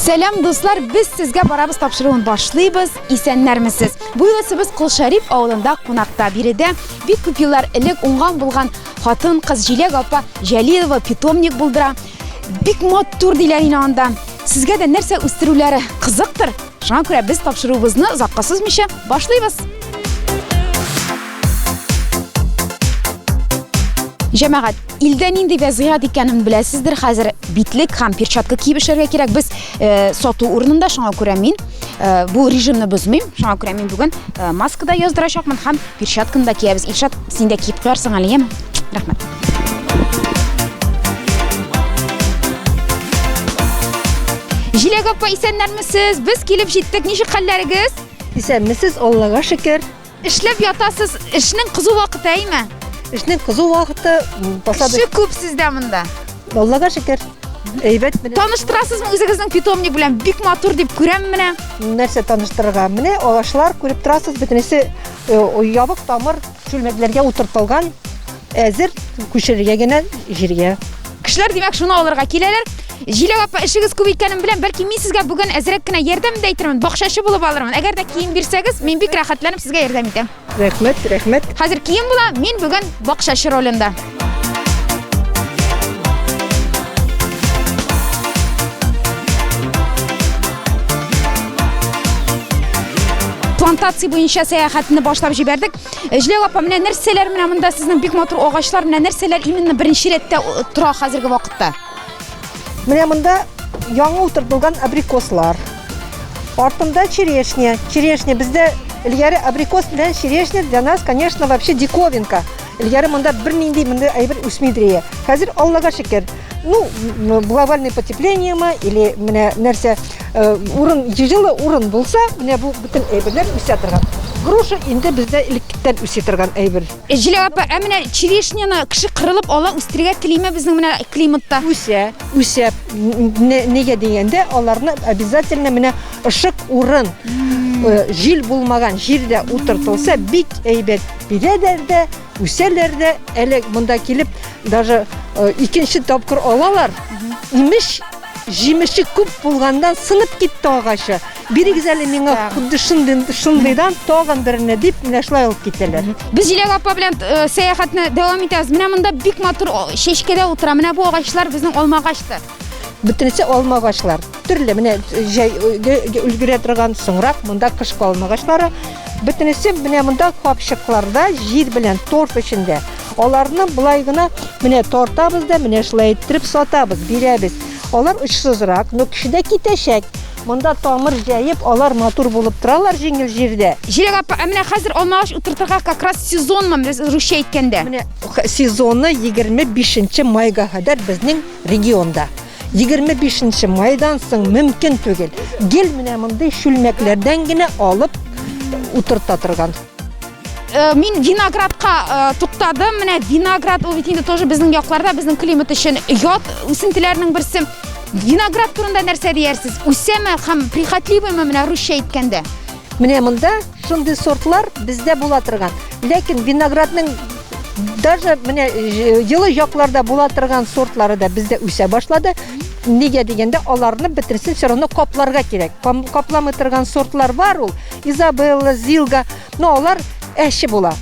Сәлам дуслар, без сезгә барабыз тапшыруын башлыйбыз. Исәннәрмесез? Бу юлы без Кулшарип авылында кунакта. Биредә бик күп еллар элек уңган булган Хатын кыз Җиләк апа Җәлилова питомник булдыра. Бик матур диләр инде анда. Сезгә дә нәрсә үстерүләре кызыктыр? Шуңа күрә без тапшыруыбызны озакка сузмыйча башлыйбыз. Җәмәгать, илдә нинди вәзгыять икәнен беләсездер хәзер. Битлек һәм перчатка киеп эшләргә кирәк. Без э, сату урынында шуңа күрә мин э, бу режимны бозмыйм. Шуңа күрә мин бүген э, маскада яздырачакмын һәм Перчатканы да киябез. Илшат, син дә киеп куярсың әле, яме? Рәхмәт. Җиләк апа, исәннәрмесез? Без килеп җиттек. Ничек хәлләрегез? Исәнмесез, Аллага шөкер. Эшләп ятасыз. Эшнең кызу вакыты, әйме? Эшнең кызу вакыты посадочный Кеше күп сездә монда. Аллага шөкер. Әйбәт менә. Таныштырасызмы үзегезнең питомник белән? Бик матур дип күрәм менә. Нәрсә таныштырырга? Менә агачлар күреп торасыз, бөтенесе э, ябык тамыр чүлмәкләргә утыртылган, әзер күчерергә генә җиргә. Кешеләр, димәк, шуны алырга киләләр. Җиләк апа, эшегез күп икәнен беләм, бәлки мин сезгә бүген әзрәк кенә ярдәм дә итермен, бакчачы булып алырмын. Әгәр дә кием бирсәгез, мин бик рәхәтләнеп сезгә ярдәм итәм. Рәхмәт, рәхмәт. Хәзер кием була, мин бүген бакчачы ролендә. плантация буенча сәяхәтне башлап җибәрдек. Җлег апа, менә нәрсәләр менә монда сезнең бик матур агачлар, менә нәрсәләр именно беренче рәттә тора хәзерге вакытта? Менә монда яңа утыртылган абрикослар. Артында черешня. Черешня бездә элгәре абрикос белән черешня для нас, конечно, вообще диковинка. Элгәре монда бер нинди монда әйбер үсми дрия. Хәзер Аллага шөкер. Ну, глобальное потепление ма или менә нәрсә э, урын җылы урын булса, менә бу бөтен әйберләр үсә торган. Груша инде бездә элеккән үсә торган әйбер. Җиләк апа, ә менә черешняны кеше кырылып ала, үстерергә телиме безнең менә климатта? Үсә, үсә. Нигә дигәндә, аларны обязательно менә ышык урын, э, җил булмаган җирдә утыртылса, бик әйбәт бирәләр дә, үсәләр дә. Әле монда килеп, даже э, икенче тапкыр алалар. Имеш, җимеше күп булганнан сынып китте агачы. Бирегез әле миңа худды шундый, шундыйдан тагын берне дип, менә шулай алып китәләр. Без Җиләк апа белән э, сәяхәтне дәвам итәбез. Менә монда бик матур о, чәчкәдә утыра. Менә бу агачлар безнең алма агачтыр. Бөтенесе алма агачлар. Төрле менә җәй өлге- өлгерә торган соңрак монда кышкы алма агачлары. Бөтенесе менә монда капчыкларда җир белән торф эчендә. Аларны болай гына менә тартабыз да, менә шулай иттереп сатабыз, бирәбез. Алар очсызрак, но кешедә китәчәк. Монда тамыр җәеп, алар матур булып торалар җиңел җирдә. Җиләк апа, ә менә хәзер алма агач утыртырга как раз сезонмы, без русча әйткәндә? Менә сезоны 25 майга кадәр безнең регионда. 25 майдан соң мөмкин түгел. Гел менә мондый чүлмәкләрдән генә алып утырта торган. Э, мин виноградка э, туктадым менә виноград ул бит инде тоже безнең якларда безнең климат өчен ят үсентеләрнең берсе виноград турында нәрсә диярсез үсәме һәм прихотливыймы менә русча әйткәндә менә монда шундый сортлар бездә була торган ләкин виноградның даже менә э, елы якларда була торган сортлары да бездә үсә башлады нигә дигәндә аларны бетерсен все равно капларга кирәк капламый торган сортлар бар ул Изабелла, Зилга, но алар әче була.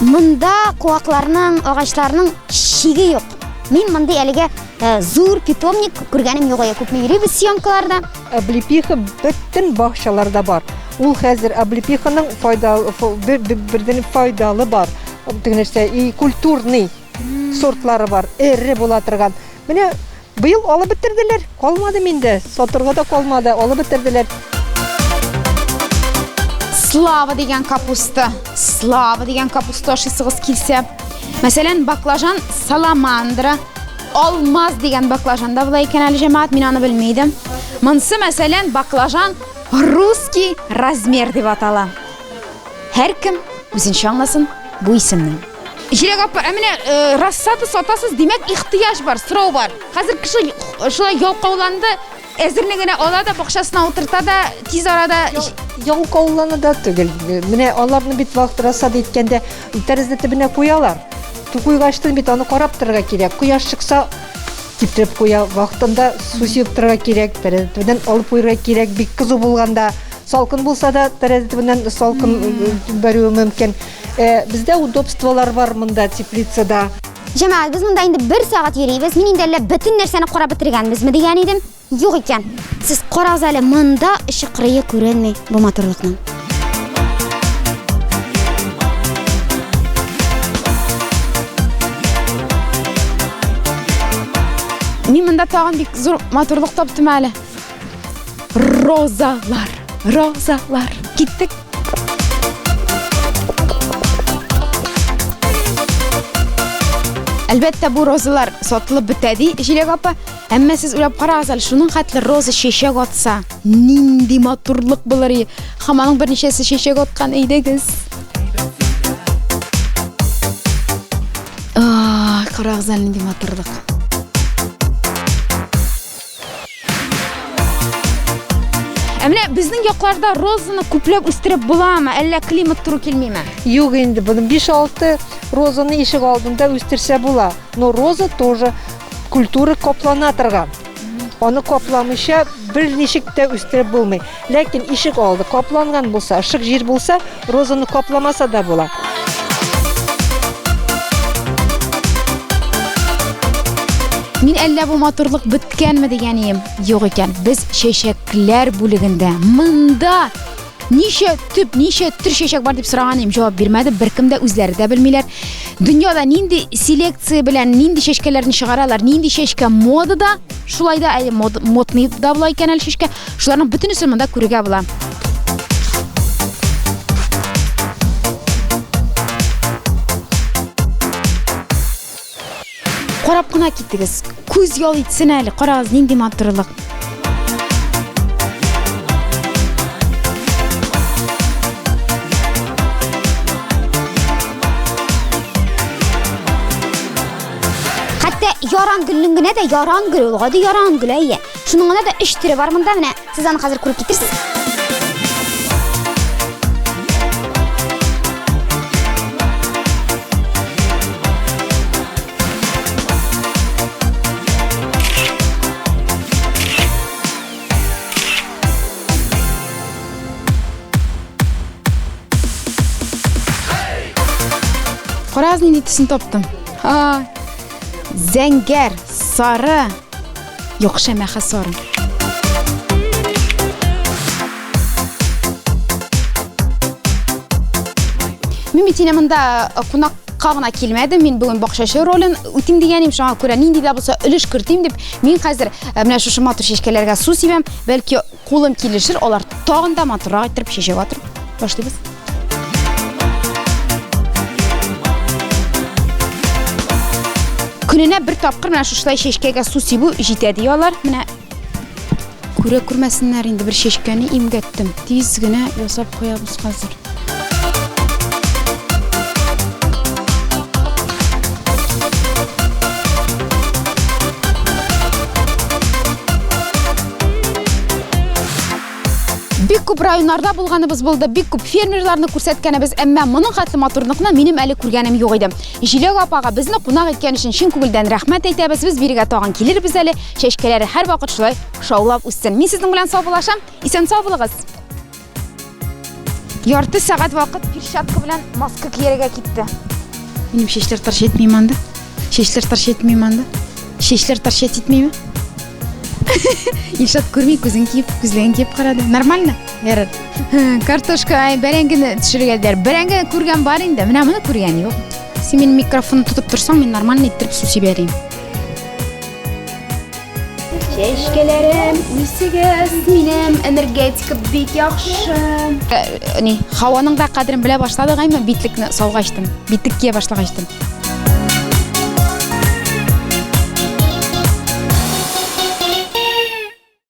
Монда куакларның, агачларның шиге юк. Мин монда әлегә э, зур питомник күргәнем юк, күпме йөрибез съемкаларда. Облепиха бөтен бакчаларда бар. Ул хәзер облепиханың файдалы бердән файдалы бар. Теге нәрсә и культурный сортлары бар. Эре була торган. Менә быел алып бетерделәр. Калмады миндә. Сатырга да калмады. Алып бетерделәр. Слава дигән капуста. Слава дигән капуста ашыйсыгыз килсә. Мәсәлән, баклажан, саламандра, Алмаз дигән баклажан да була икән әле, җәмәгать, мин аны белми идем. Монсы, мәсәлән, баклажан русский размер дип атала. Һәркем үзенчә аңласын бу исемне. Җирәк апа, ә менә э, рассада сатасыз, димәк, ихтыяҗ бар, сорау бар. Хәзер кеше шулай ялкауланды, Әзерне генә ала да, бакчасына утырта да, тиз арада Ялкауланы да түгел. Менә аларны бит вакыт расад иткәндә тәрәзә төбенә куялар. Куйгачтын бит аны карап торырга кирәк. Кояш чыкса, китереп куя. Вакытында су сибеп торырга кирәк, тәрәзә төбеннән алып куярга кирәк. Бик кызу булганда, салкын булса да, тәрәзә төбеннән салкын бәрүе мөмкин. Бездә удобстволар бар монда теплицада. Җәмәгать, без монда инде бер сәгать йөрибез. Мин инде әллә бөтен нәрсәне карап бетергәнбезме дигән идем. Юк икән. Сез карагыз әле, монда эче кырые күренми бу матурлыкның. Мин монда тагын бик зур матурлык таптым әле. Розалар, розалар. Киттек. Әлбәттә, бу розалар сатылып бетә ди Җиләк апа. Әмма сез уйлап карагыз әле, шуның хәтле роза чәчәк атса, нинди матурлык булыр и. Һәм аның берничәсе чәчәк аткан әйдәгез. А, карагыз әле нинди матурлык. Ә менә безнең якларда розаны күпләп үстереп буламы, әллә климат туры килмиме? Юк инде, буны 5-6 розаны ишек алдында үстерсә була. Но роза тоже культура каплана торган. Аны капламыйча бер ничек тә үстереп булмый. Ләкин ишек алды капланган булса, шык җир булса, розаны капламаса да була. Мин әллә бу матурлык беткәнме дигән ием. Юк икән, без чәчәкләр бүлегендә. Монда ничә төп, ничә төр чәчәк бар дип сораган идем, җавап бирмәде. Беркем дә үзләре дә белмиләр. Дөньяда нинди селекция белән нинди чәчкәләрне чыгаралар, нинди чәчкә модада, шулай да әле мод, модный да була икән әле чәчкә, шуларның бөтенесен монда күрергә була. Карап кына китегез. Күз ял итсен әле. Карагыз, нинди матурлык. Хәтта яран гөлнең генә дә яран гөл ул, гади яран гөл әйе. Шуның гына да 3 төре бар монда менә. Сез аны хәзер күреп Кара, нинди төсен таптым. А, зәңгәр, сары, Яхшы әмма хасар. Мин бит монда э, кунакка гына килмәдем. Мин бүген бакчачы ролен үтим дигәнем шуңа күрә нинди дә булса өлеш кертим дип, мин хәзер э, менә шушы матур чәчкәләргә су сибәм, бәлки Кулым килешер, алар тагын да матуррак иттереп чәчәк атырып башлыйбыз. Көненә бер тапкыр менә шушылай чәчкәгә су сибү җитә ди алар. Менә күрә күрмәсеннәр инде бер чәчкәне имгәттем. Тиз генә ясап куябыз хәзер. бик күп районнарда булганыбыз булды, бик күп фермерларны күрсәткәнебез, әмма моның хәтле матурлыкны минем әле күргәнем юк иде. Җиләк апага безне кунак иткән өчен чын күңелдән рәхмәт әйтәбез. Без бирегә тагын килербез әле. Чәчкәләре һәрвакыт шулай шаулап үссен. Мин сезнең белән саубулашам. Исән сау булыгыз. Ярты сәгать вакыт перчатка белән маска кияргә китте. Минем чәчләр тарш итми монда. Чәчләр тарш итми монда. Чәчләр тарш итмиме? Илшат күрми күзен киеп, күзлеген киеп карады. Нормально? Ярар. Картошка, ай, бәрәңгене төшерергә дияр. Бәрәңге күргән бар инде. Менә моны күргән юк. Син минем микрофонны тотып торсаң, мин нормально иттереп су сибәрим. Чәчкәләрем, үсегез, минем энергетика бик яхшы. Э, ни, һаваның да кадерен белә башладык, әмма битлекне салгачтым, битлек кия башлагачтым.